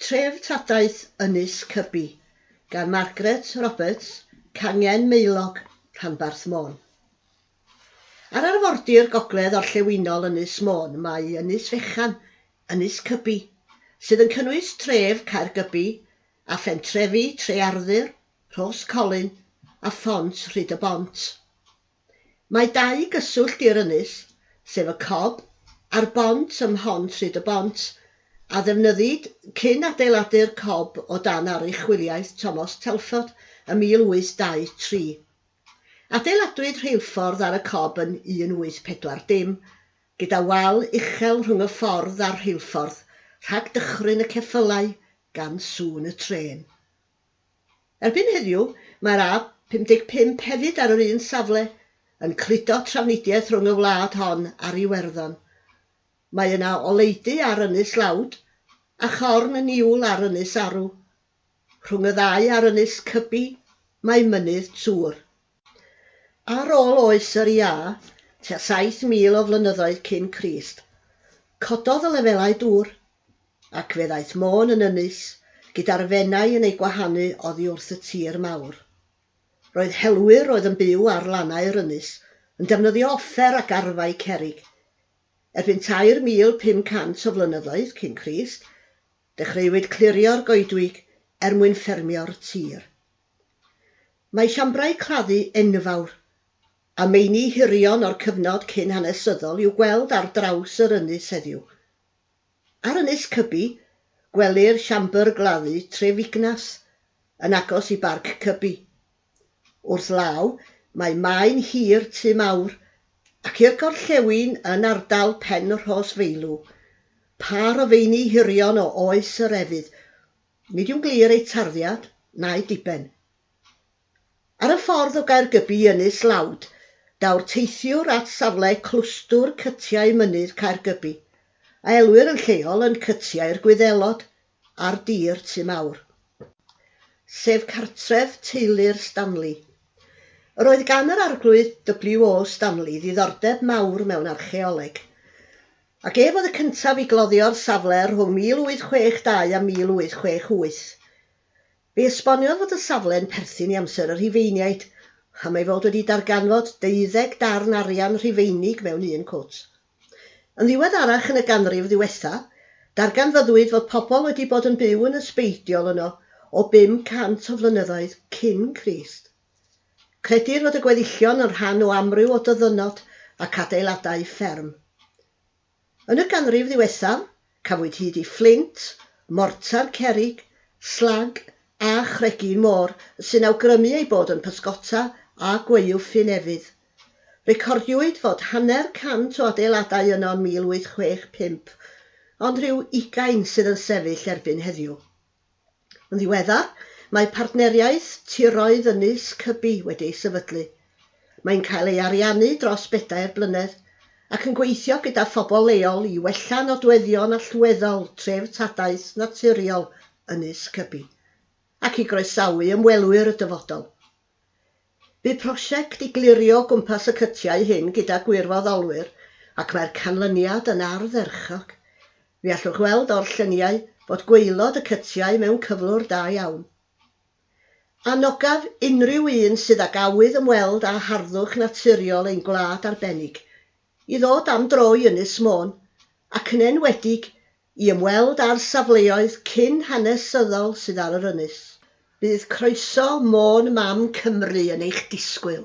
Treftadaeth Ynys Cybi gan Margaret Roberts, Cangen Maelog, Rhanbarth Môn. Ar arfordir gogledd orllewinol Ynys Môn mae Ynys Fechan, Ynys Cybi, sydd yn cynnwys tref Caergybi a phentrefi Trearthur, Rhos Colyn a Phont Rhyd-y-bont. Mae dau gyswllt i'r ynys, sef y Cob a'r bont ym Mhont Rhyd y Bont, a ddefnyddid cyn adeiladu'r Cob o dan aruchwyliaeth Tomos Telford ym 1823. Adeiladwyd rheilffordd ar y Cob yn 1840, gyda wal uchel rhwng y ffordd a'r rheilffordd, rhag dychryn y ceffylau gan sŵn y trên. Erbyn heddiw, mae'r A55 hefyd ar yr un safle, yn cludo trafnidiaeth rhwng y wlad hon a'r Iwerddon. Mae yna oleudy ar Ynys Lawd, a chorn niwl ar Ynys Arw. Rhwng y ddau ar Ynys Cybi, mae Mynydd Twr. Ar ôl oes yr Iâ, tua 7,000 o flynyddoedd cyn Crist, cododd y lefelau dŵr, ac fe ddaeth Môn yn ynys, gyda'r Fenai yn ei gwahanu oddi wrth y tir mawr. Roedd helwyr oedd yn byw ar lannau'r ynys yn defnyddio offer ac arfau cerrig. Erbyn 3,500 o flynyddoedd cyn Crist, Dechreuwyd clirio'r goedwig er mwyn ffermio'r tir. Mae siambrau claddu enfawr a meini hirion o'r cyfnod cyn-hanesyddol i'w gweld ar draws yr ynys heddiw. Ar Ynys Cybi, gwelir siambr gladdu Tref Ignas, yn agos i Barc Cybi. Wrth law, mae Maen Hir, Tŷ Mawr, ac i'r gorllewin yn ardal Pen-rhos Feilw, pâr o feini hirion o oes yr Efydd. Nid yw'n glir eu tarddiad na'u diben. Ar y ffordd o Gaergybi i Ynys Lawd, daw'r teithiwr at safle Clwstwr Cytiau Mynydd Caergybi, a elwir yn lleol yn Cytiau'r Gwyddelod. ar dir Tŷ Mawr, sef cartref teulu'r Stanley. Yr oedd gan yr Arglwydd WO. Stanley ddiddordeb mawr mewn archaeoleg, ac ef oedd y cyntaf i gloddio'r safle rhwng 1862 a 1868. Fe esboniodd fod y safle'n perthyn i amser y Rhufeiniaid, am ei fod wedi darganfod deuddeg darn arian Rhufeinig mewn un cwt. Yn ddiweddarach yn y ganrif ddiwetha', darganfyddwyd fod pobl wedi bod yn byw yn ysbeidiol yno o 500 o flynyddoedd cyn Crist. Credir fod y gweddillion yn rhan o amryw o dyddynod ac adeiladau fferm. Yn y ganrif ddiwethaf, Cafwyd hyd i fflint, mortar, cerrig, slag a chregyn môr sy'n awgrymu eu bod yn pysgota a gwaew ffyn efydd. Recordiwyd fod hanner cant o adeiladau yno yn 1865, ond rhyw ugain sydd yn sefyll erbyn heddiw. Yn ddiweddar, mae partneriaeth tiroedd ynys Cybi wedi ei sefydlu. Mae'n cael ei ariannu dros bedair blynedd, ac yn gweithio gyda phobl leol i wella nodweddion allweddol treftadaeth naturiol Ynys Cybi, ac i groesawu ymwelwyr y dyfodol. Bu prosiect i glirio o gwmpas y cytiau hyn gyda gwirfoddolwyr ac mae'r canlyniad yn ardderchog. Fe allwch weld o'r lluniau fod gwaelod y cytiau mewn cyflwr da iawn. Anogaf unrhyw un sydd ag awydd ymweld â harddwch naturiol ein gwlad arbennig i ddod am dro i Ynys Môn, ac yn enwedig I ymweld â'r safleoedd cyn hanesyddol sydd ar yr ynys. Bydd croeso Môn Mam Cymru yn eich disgwyl!